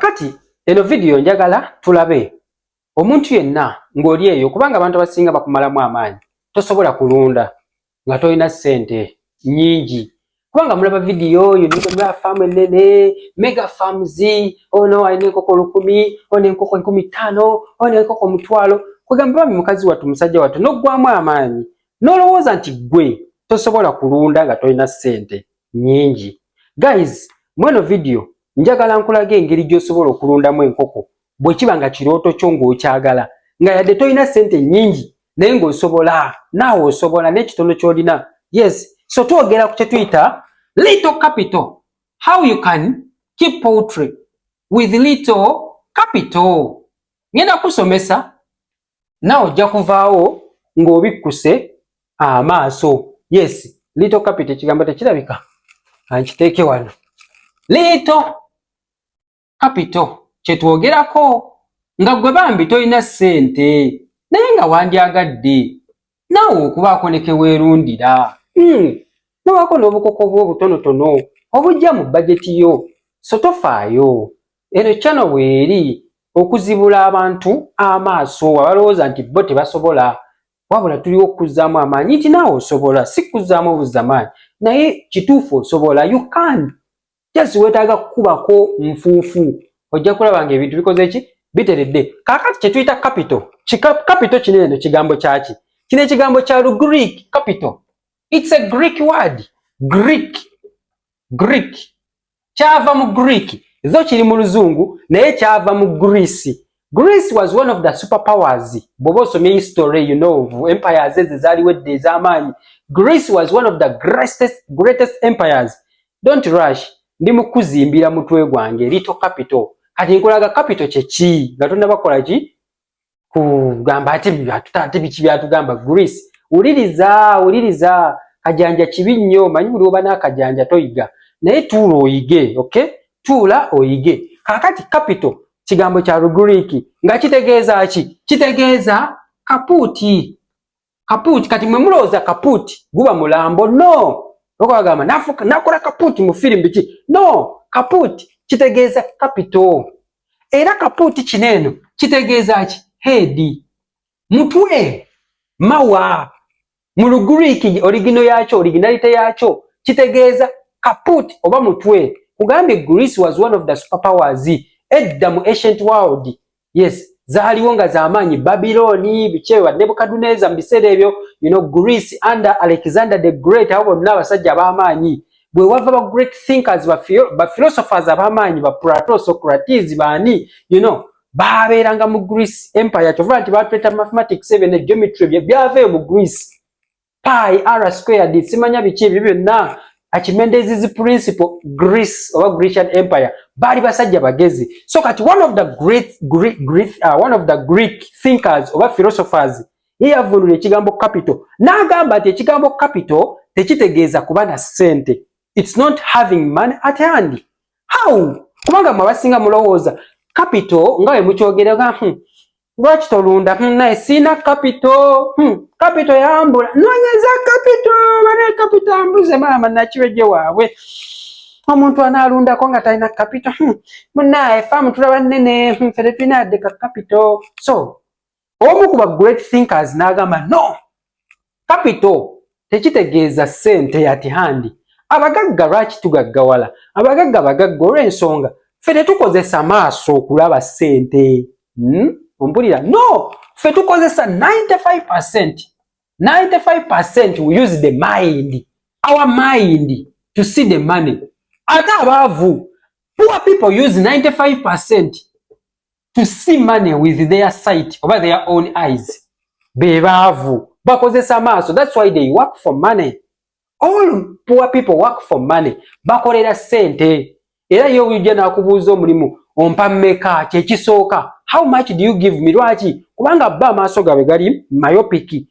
kati eno vidiyo njagala tulabe omuntu yenna ng'oli eyo kubanga abantu abasinga bakumalamu amaanyi tosobola kulunda nga tolina ssente nyingi kubanga mulaba vidiyo oyo nigomera faamu ennene mega farms ono oh alina enkoko lukumi ono oh enkoko enkumi ttaano ono oh enkoko omutwalo kwegamba bami mukazi wattu musajja wattu n'oggwamu amaanyi n'olowooza nti ggwe tosobola kulunda nga tolina ssente nyingi guys mweno video njagala nkulaga engeri gyosobola okulundamu enkoko bwekiba nga kirooto kyo ngaokyagala nga yadde tolina sente nyingi naye ngaosobola naawe osobola nekitono kyolina yes so twogera ku kyetuyita little capital how you can keep poultry with little capital ngenda kusomesa nawe ojja kuvaawo ng'obikkuse amaaso yes lito kapito ekigambo tekirabika ankiteeke wano lito kapito kyetwogerako nga gwe bambi tolina ssente naye nga wandyagadde naawe okubaako ne ke weerundira hmm, nobaako n'obukoko bwo obutonotono obujja mu bajeti yo so tofaayo eno kyano weeri okuzibula abantu amaaso abalowooza nti bo tebasobola wabula tuliwo okukuzzaamu amaanyi nti naawe osobola si kukuzzaamu obuzzamaanyi naye kituufu osobola you can just wetaaga kukubako nfuufu ojja kulaba nga ebintu bikoze ki biteredde kakati kyetuyita capital capital kino eno kigambo kyaki kino ekigambo kya lugreek capital its a greek word greek greek kyava mu greek zo kiri mu luzungu naye kyava mu greece Greece was one of the super powers bwoba osomye history you know of empires ezo ezaaliwo edda ez'amaanyi Greece was one of the greatest, greatest empires don't rush ndi mu kuzimbira mutwe gwange little capital kati nkulaga capital kyeki nga tonabakola ki kugamba ati ate biki byatugamba Greece wuliriza wuliriza kajanja kibi nnyo manyi buli oba n'akajanja toyiga naye tuula oyige okay tuula oyige kakati capital kigambo kya Lugriiki nga kitegeeza ki? Kitegeeza kapuuti. Kapuuti kati mwe mulowooza kapuuti guba mulambo? No, okubagamba nakola kapuuti mu firimu biki? No, kapuuti kitegeeza kapito. Era kapuuti kino eno kitegeeza ki? Heedi, mutwe, mawa, Mu Lugriiki oligino yaakyo, originality yaakyo, kitegeeza kaput oba mutwe. Kugambye Greece was one of the superpowers edda mu ancient world. Yes, zaaliwo nga z'amaanyi Babilooni, bikyewa Nebukaduneza mu biseera ebyo, you know, Greece under Alexander the Great, abo bonna abasajja ab'amaanyi. Bwe wava ba great thinkers, ba philosophers ab'amaanyi, ba Plato, Socrates, baani, you know, baabeeranga mu greece empire kyovula nti batuleta mathematics ebyo ne geometry bye byava eyo mu greece pi r squared simanya biki ebyo byonna akimendezis principle greece oba grecian empire baali basajja bagezi so kati one of the great, great, great, uh, one of the greek thinkers oba philosophers ye yavunula ekigambo capital n'agamba nti ekigambo capital tekitegeeza kuba na ssente its not having money at hand how kubanga mwe abasinga mulowooza capital nga we mukyogereka hmm. lwaki tolunda hmm, naye siina capital hmm. capital yambula nonyeza capital bane capital ambuze maama nakiweje waabwe omuntu anaalundako nga talina capital munaye faamu tulaba nene ffe tetulina yadde ka capital so omu ku ba great thinkers n'agamba no capital tekitegeeza ssente yati handi abagagga lwaki tugaggawala abagagga bagagga olw'ensonga ffe tetukozesa maaso okulaba ssente hmm? ompulira no ffe tukozesa 95 percent 95 percent we use the mind our mind to see the money ate abaavu poor people use 95 percent to see money with their sight oba their own eyes bebaavu bakozesa maaso that's why they work for money all poor people work for money bakolera sente era ye ujja nakubuuza omulimu ompa meka kyekisooka how much do you give me lwaki kubanga bba amaaso gaabwe gali myopiki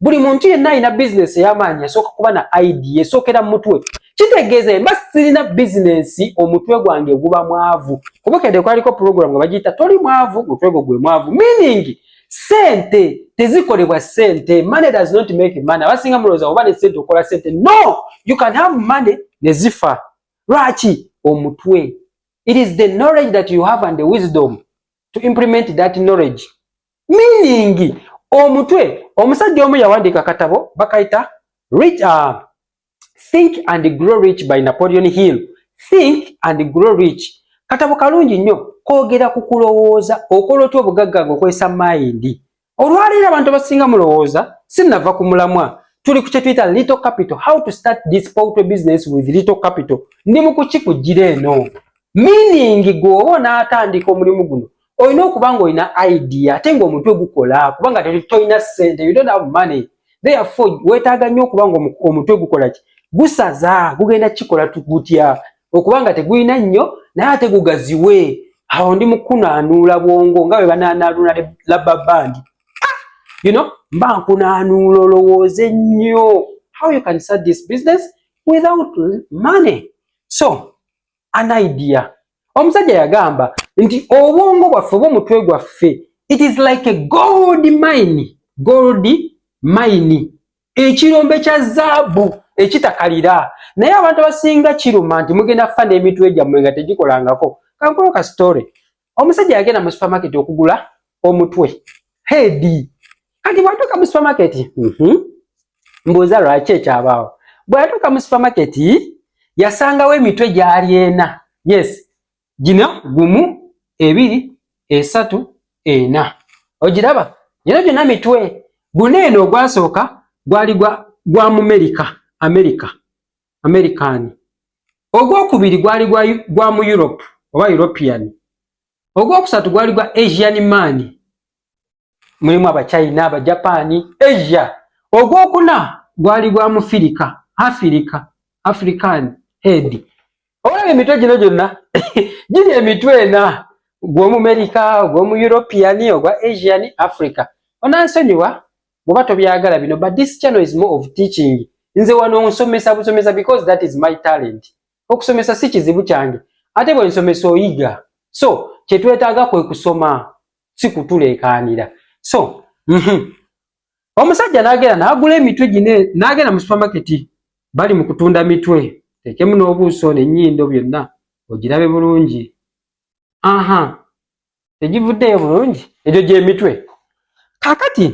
buli muntu yenna alina bizinesi ey'amaanyi esooka kuba na idea esookera mu mutwe kitegeeza mba sirina bizinesi omutwe gwange guba mwavu kubukede kwaliko pulogulamu nga bagiyita toli mwavu mutwe gwo gwe mwavu meaning sente tezikolebwa sente money does not make money abasinga mulowooza oba ne sente okola sente no you can have money ne zifa lwaki omutwe it is the knowledge that you have and the wisdom to implement that knowledge meaning omutwe omusajja omu yawandiika akatabo bakayita rich uh, think and grow rich by napoleon hill think and grow rich katabo kalungi nnyo kogera ku kulowooza okola otya obugagga nga okozesa mayindi olwaleero abantu abasinga mulowooza sinava ku mulamwa tuli ku kyetuyita little capital how to start this poultry business with little capital ndi mu kukikugira eno meaning gweoba onaatandika omulimu guno olina okuba nga olina idea ate ngaomutwe gukola kubanga tolina sente you don't have money therefore wetaaga nnyo okuba nga omutwe gukola ki gusaza gugenda kikola gutya okuba nga tegulina nnyo naye ate gugaziwe awo ndi mukunaanuula bwongo nga bwe banaanaaluula labba bandi you know mba nkunaanuula olowooze nnyo how you can start this business without money so an idea omusajja yagamba nti obwongo bwaffe oba omutwe gwaffe it is like a gold mine gold mine ekirombe kya zaabu ekitakalira naye abantu abasinga kiruma nti mugenda kufa n'emitwe gyammwe nga tegikolangako kankulo ka story omusajja yagenda mu supermarket okugula omutwe heedi kati bwatuuka mu supermarket mhm, mbuuza lwaki ekyabaawo bweyatuuka mu supermarket yasangawo emitwe gyali ena yes gino gumu ebiri esatu ena ogiraba gino gyona mitwe guna eno ogwasooka gwali gwa mumerika amerika american ogwokubiri gwali gwa mu europe oba european ogwokusatu gwali gwa asian man mulimu abachina abajapani asia ogwokuna gwali gwa mufirika afirika african head olaba emitwe gino gyonna giri emitwe ena gwomumerica ogwomu european ogwa asian africa onansonyiwa bwoba tobyagala bino but this channel is more of teaching nze wano nsomesa busomesa because that is my talent okusomesa si kizibu kyange ate bwe nsomesa oyiga so kyetwetaaga kwe kusoma si kutuleekaanira so mm -hmm. omusajja n'agenda n'agula emitwe gine n'agenda mu supamaketi bali mu kutunda mitwe tekemu n'obuuso n'ennyindo byonna ogirabe bulungi aha tegivuddeyo bulungi egyo gyemitwe kakati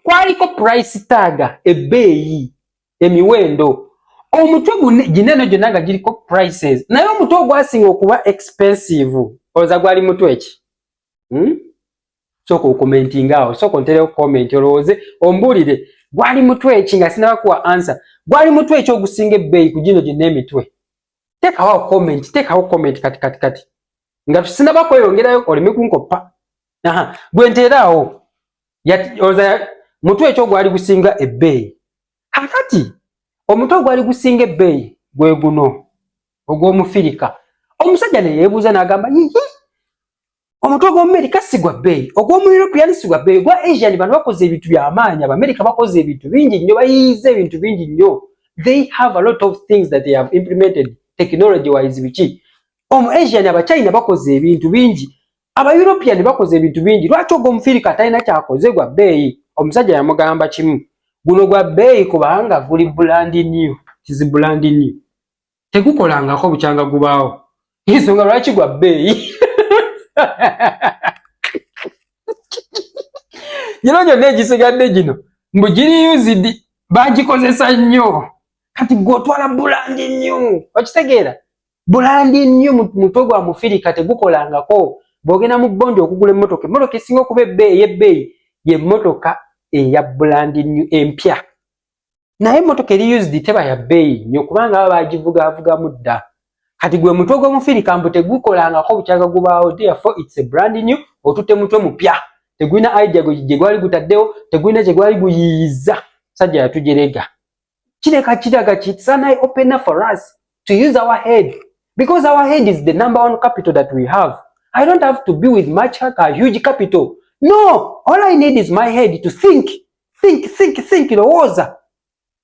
kwaliko price taga ebbeeyi emiwendo omutwe gineno gyonna nga giriko prices naye omutwe ogwasinga okuba expensive olowooza gwali mutwe ki hmm? soka okomentinga awo soka onterewo comment olowooze ombuulire gwali mutwe ki nga sinaba kuwa ansa gwali mutwe ki ogusinga ebbeeyi ku gino gyonna emitwe tekawo comment tekawo comment kati kati kati nga tusinaba kweyongerayo oleme kunkoppa aha gwe nteeraawo oza mutwe ekyo gwali gusinga ebbeeyi kakati omutwe gwali gusinga ebbeeyi gwe guno ogw'omufirika omusajja ne yeebuuza n'agamba yiyi omutwe gw'omumerika si gwa bbeeyi ogw'omu european si gwa bbeeyi ogwa asian bano bakoze ebintu by'amaanyi abamerika bakoze ebintu bingi nnyo bayiyiza ebintu bingi nnyo they have a lot of things that they have implemented technology wise biki omu asian abachina bakoze ebintu bingi aba european bakoze ebintu bingi lwaki ogwo omufirika atalina kyakoze gwa bbeeyi omusajja yamugamba kimu guno gwa bbeeyi kubanga guli bulandi new kizi bulandi new tegukolangako bukyanga gubaawo ensonga lwaki gwa bbeeyi gino gyonna egisigadde gino mbu giri usidi bagikozesa nnyo kati gwe otwala bulandi new okitegeera bulandi nnyo mutwe gwa mufirika tegukolangako bwogenda mu bondi okugula emmotoka emmotoka esinga okuba ebbeeyi ey'ebbeeyi yemmotoka eya bulandi nnyo empya naye emmotoka eri used teba ya bbeeyi nnyo kubanga aba baagivugaavugamu dda kati gwe mutwe gw'omufirika mbu tegukolangako bukyaga gubaawo therefore its a brand new otutte mutwe mupya tegulina idea gye gwali gutaddewo tegulina kye gwali guyiiyiza sajja yatujerega kile kachiraga ki it's an eye opener for us to use our head because our head is the number one capital that we have i don't have to be with much a huge capital no all i need is my head to think think think think lowooza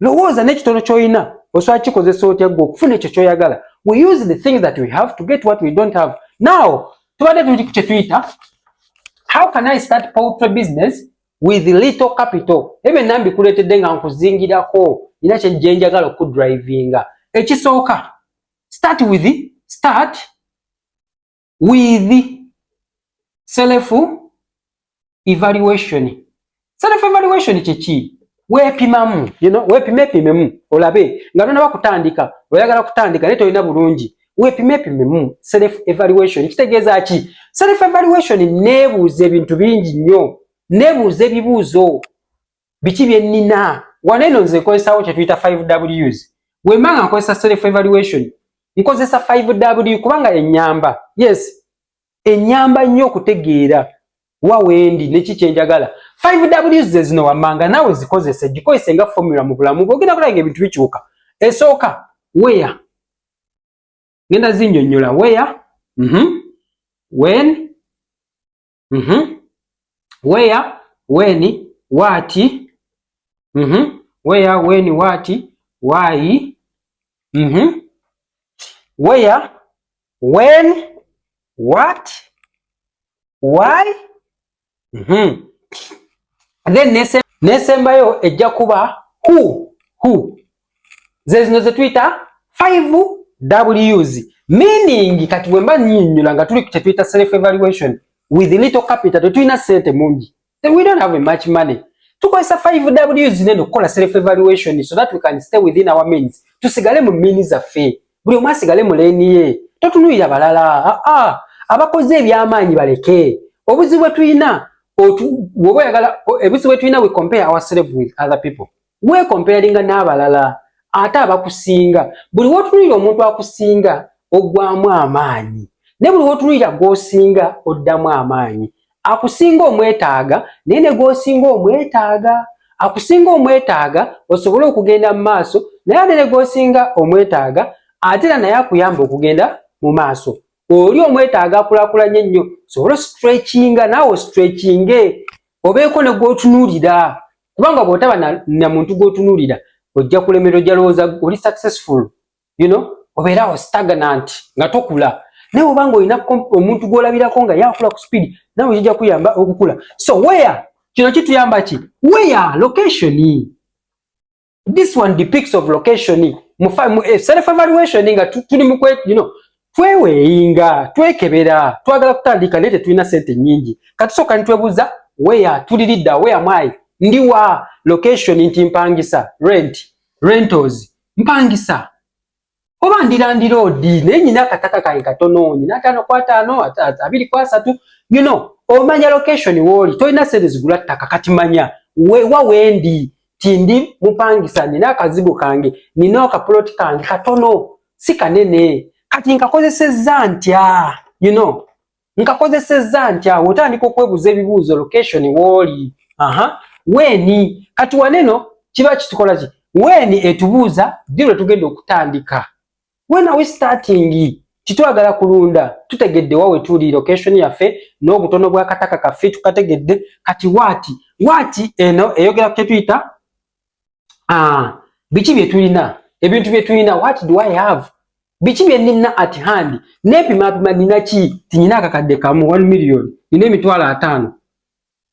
lowooza n'ekitono kyolina osobola kikozesa otya gwe okufuna ekyo kyoyagala we use the things that we have to get what we don't have now tubadde tuli ku kyetuyita how can i start poultry business with little capital ebyo nambi kuletedde nga nkuzingirako ina kye jenjagala ku drivinga ekisooka start with start with self evaluation self evaluation kye ki weepimamu you know, weepimepimemu olabe nga tonaba kutandika oyagala kutandika naye tolina bulungi weepimepimemu self evaluation kitegeeza ki self evaluation neebuuza ebintu bingi nnyo neebuuza ebibuuzo biki bye nnina wano eno nze nkozesawo kye tuyita 5 ws wemba nga nkozesa self evaluation nkozesa 5 w kubanga enyamba yes enyamba nnyo okutegeera wa wendi neki kyenjagala 5w zezino wammanga naawe zikozese gikozese nga formula mu bulamu bwe ogenda kulaba nga ebintu bikyuka esooka weya ngenda zinyonyola weya mm -hmm. wen mm -hmm. weya weni waati mm -hmm. weya weni waati waayi mm -hmm. weya when what why mm -hmm. then nesembayo ejja kuba who who zezino zetuyita 5 ws meaning kati bwemba nyinyula nga tuli kyetuyita self evaluation with little capital tetulina sente mungi Then we don't have much money. Tukozesa 5W zinene okukola self evaluation so that we can stay within our means. Tusigale mu means zaffe. Buli omu asigale mu lane ye. Totunulira balala. Ah ah. Abakoze ebyamaanyi baleke. Obuzibu bwe tulina otu woyagala ebuzibu bwe tulina we compare ourselves with other people. weekompayalinga n'abalala ate abakusinga buli wotunulira omuntu akusinga ogwamu amaanyi ne buli wotunulira gwosinga oddamu amaanyi akusinga omwetaaga naye ne gwosinga omwetaaga akusinga omwetaaga osobole okugenda mu maaso naye ate ne gwosinga omwetaaga ate era naye akuyamba okugenda mu maaso oli omwetaaga akulakulanye nnyo sobole stretchinga naawe stretchinge obeeko ne gwotunuulira kubanga bwotaba na muntu gwotunuulira ojja kulemera ojja lowooza oli successful you know obeerawo stagnant nga tokula naye obanga olina omuntu gwolabirako nga yakula ku speed nawe kijja kuyamba okukula so where kino kituyamba ki where location this one depicts of location mu eh, self evaluation nga tuli mu you know tweweyinga twekebera twagala kutandika naye tetulina sente nyingi katusooka nitwebuza weya tulilidda weya mwayi ndiwa location nti mpangisa rent rentals mpangisa oba ndira ndiroodi naye nyina akataka kange katono nyina ataano ku ataano abiri ku asatu you know omanya location wooli tolina sente zigula ttaka kati manya wewa wendi tindi mupangisa nina akazigo kange nina akapuloti kange katono si kanene kati nkakozesezza ntya you know nkakozesezza ntya awo otandika okwebuuza ebibuuzo location wooli aha weeni kati waneno kiba kitukola ki weeni etubuuza ddi lwe tugenda okutandika when are we starting titwagala kulunda tutegedde wa wetuli location yaffe n'obutono bw'akataka kaffe tukategedde kati waati waati eno eyogera ku kyetuyita ah, biki bye tulina ebintu bye tulina what do i have biki bye nina at hand nepima pima nina ki tinyina akakadde kamu 1 million nina emitwalo ataano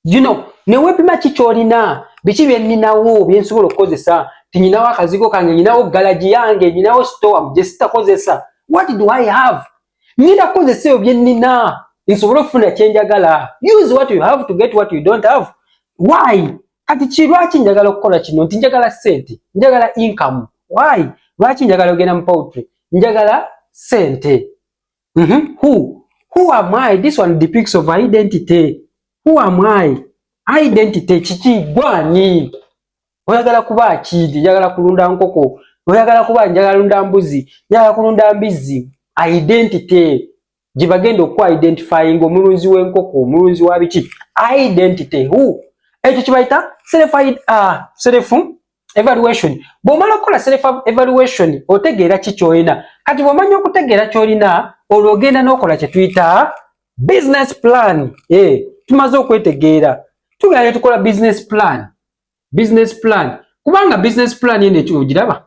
you know newepima ki kyolina biki bye ninawo bye nsobola okukozesa tinyinawo akazigo kange nyinawo galaji yange nyinawo store gye sitakozesa what do i have nina kukozesa ebyo bye nina nsobole okufuna kyenjagala use what you have to get what you don't have why kati kirwaki njagala okukola kino nti njagala sente njagala income why lwaki njagala ogenda mu poultry njagala sente mm -hmm. who who am i this one depicts of identity who am i identity kiki gwani oyagala kuba kidi njagala kulunda nkoko oyagala kuba njagala lunda mbuzi njagala kulunda mbizzi identity gye bagenda okuku identifyinga omulunzi w'enkoko omulunzi wa biki identity who ekyo kibayita self uh, self evaluation bw'omala okukola self evaluation otegeera ki kyolina kati bw'omanya okutegeera kyolina olwo ogenda n'okola kye tuyita business plan e eh, tumaze okwetegeera tugenda ne tukola business plan business plan kubanga business plan eno ekyo ogiraba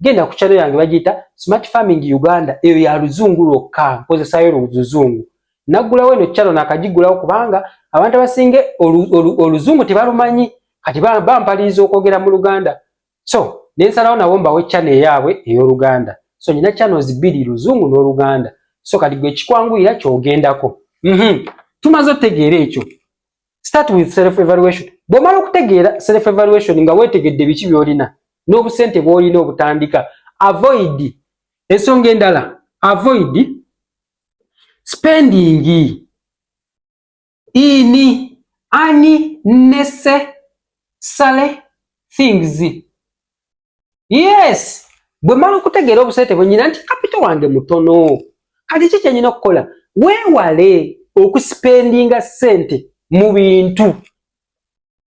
genda ku channel yange bagiyita smart farming uganda eyo ya luzungu lwokka nkozesayo luzungu naggulawo eno channel nakagigulawo kubanga abantu abasinga oluzungu tebalumanyi kati bampaliriza okwogera mu luganda so nensalawo nabo mbawe channel eyaabwe ey'oluganda so nina channels bbiri luzungu n'oluganda so kati gwe kikwanguyira kyogendako mhm. tumaze otegeera ekyo start with self evaluation bwomala okutegeera self evaluation nga wetegedde biki byolina n'obusente bwolina obutandika avoid ensonga endala avoid spending in unnecessary things yes bwe mmala okutegeera obusente bwe nyina nti kapito wange mutono kati ki kyenyina okukola weewale okusipendinga ssente mu bintu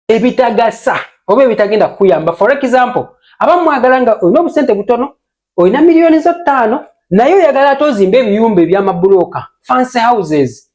ebitagasa oba ebitagenda kukuyamba for example abamu mwagala nga olina obusente butono olina miliyoni zo ttaano naye oyagala ate ozimba ebiyumba ebyamabulooka fancy houses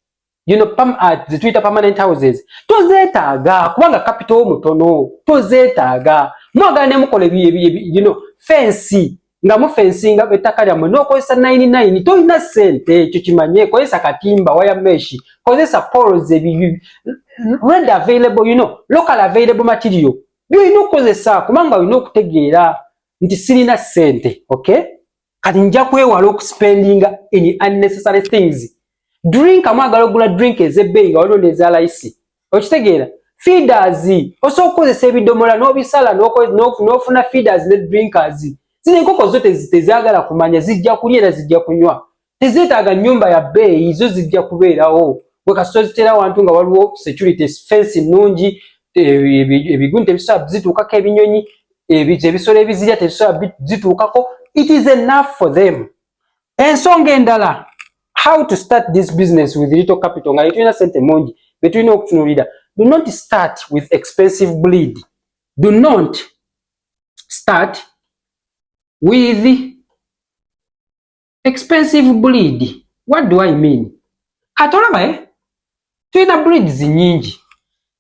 you know, pam, uh, ah, zituyita permanent houses tozeetaaga kubanga kapito mutono tozeetaaga mwagala nemukola you know, fensi nga mufensinga ettaka lyammwe n'okozesa 99 tolina sente ekyo kimanye kozesa katimba waya meshi kozesa pols red available you know, local available material byolina okukozesa kubanga olina okutegeera nti sirina sente okay kati nja kwewala okuspendinga in unnecessary things drink amwagala ogula drink ezebbeyi nga waliwo nezalayisi okitegeera feeders osobola okukozesa ebidomola n'obisala n'ofuna feeders ne drinkers zino enkoko zo tezagala kumanya zijja kulya era zijja kunywa tezeetaaga nnyumba ya bbeeyi zo zijja kubeerawo gwe kasita ozitera wantu nga waliwo security fensi nnungi eh, ebigunta ebisobola zituukako ebinyonyi ebija ebisolo ebizirya tebisobola zituukako it is enough for them ensonga endala how to start this business with little capital nga yetulina sente mungi betulina okutunulira do not start with expensive bleed do not start with expensive breed what do i mean kati olaba eh? tulina breeds nyingi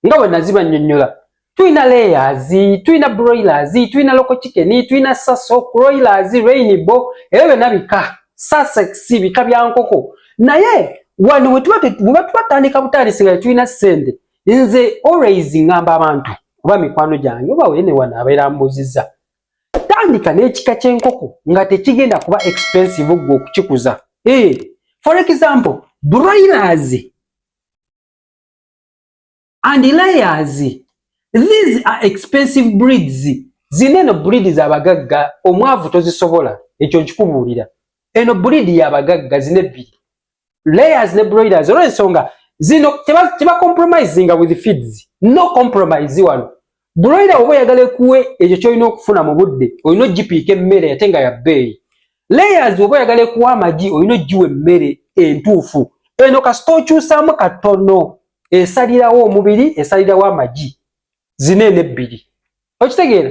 nga bwe naziba nnyonnyola tulina layers tulina broilers tulina local chicken tulina saso croilers rainbow ebyo byonna bika sussex bika bya nkoko naye wano bwe tuba tubatandika butandisi nga tetulina ssente nze always ngamba abantu oba mikwano gyange oba wene wano abeera mbuuzizza tandika n'ekika ky'enkoko nga tekigenda kuba expensive gwe okukikuza hey, eh, for example broilers and layers these are expensive breeds zina eno breed zabagagga omwavu tozisobola ekyo nkikubuulira eno breed yabagagga zina ebbiri layers ne broilers olwensonga zino tebacompromisinga with feeds no compromise wano broiler oba oyagala ekuwe ekyo kyolina okufuna mu budde olina ogipiika emmere ate nga yabbeeyi layers oba oyagala ekuwa amagi olina ogiwa emmere entuufu eno kasita okyusaamu katono esalirawo omubiri esalirawo amagi zino eno ebbiri okitegeera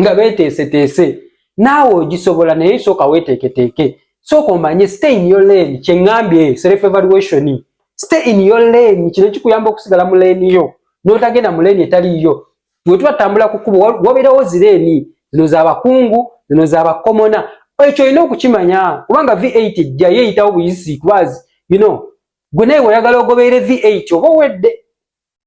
nga beteeseteese naawe ogisobola naye sooka weeteeketeeke sooka omanye stay in your lane kye ŋŋambye self evaluation stay in your lane kino kikuyamba okusigala mu leeni yo n'otagenda mu leeni etaliiyo bwe tuba tutambula ku kkubo wabeerawo zireeni zino za bakungu zino za bakomona ekyo olina okukimanya kubanga v8 ejja yeeyitawo buyisi kubaazi you know gwe naye oyagala ogobeere v8 oba owedde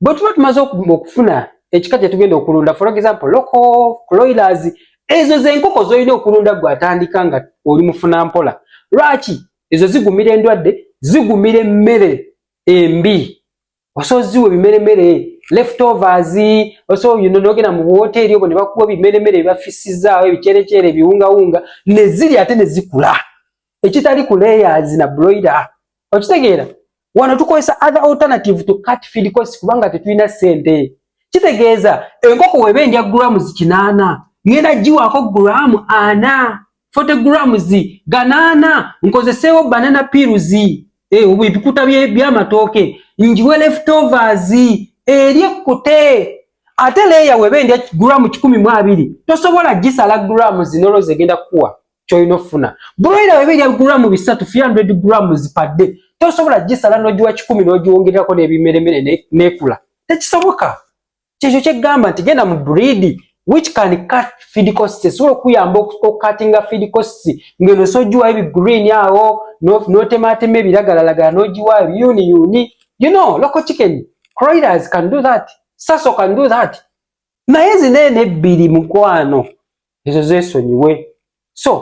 bwe tuba tumaze okufuna ekika kye tugenda okulunda for example local cloilers ezo zenkoko zolina okulunda gwe atandika nga oli mufuna mpola lwaki ezo zigumira endwadde zigumira emmere embi osobola ziwa ebimeremere leftovers osobola yino nogenda mu wooteeri obwo ne bakuwa ebimeremere ebibafisizaawo ebikyerekyere ebiwungawunga ne ziri ate ne zikula ekitali ku layers na broiler okitegeera wano tukozesa other alternative to cut feed cost kubanga tetulina sente kitegeeza enkoko weba endya grams kinaana ngenda giwaako gramu ana 40 grams ganaana nkozeseewo banana pills eh, ebikuta byamatooke njiwe leftovers eri ekkute ate leeya weba endya gramu kikumi mu abiri tosobola gisala gramu zinolo zegenda kukuwa kyolina okufuna broiler weba erya gulamu bisatu 300 grams per day tosobola gisala nogiwa kikumi nogiwongererako nebimeremere nekula tekisoboka kyekyo kyegamba nti genda mu breed which can cut feed costs esobola okuyamba okukatinga feed costs ngeno sogiwa ebi green awo notematema ebiragalalagala nogiwa yuni yuni you know local chicken croilers can do that saso can do that naye zino eno ebbiri mukwano ezo zesonyiwe so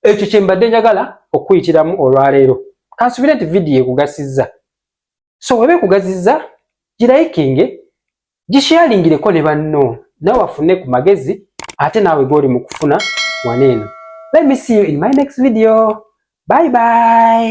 ekyo kyembadde njagala okuyitiramu olwaleero kansubire nti vidiyo ekugasiza so weba ekugaziza girayikinge gisharingireko ne banno nawe afune ku magezi ate naawe goli mu kufuna waneeno let me see you in my next video bye bye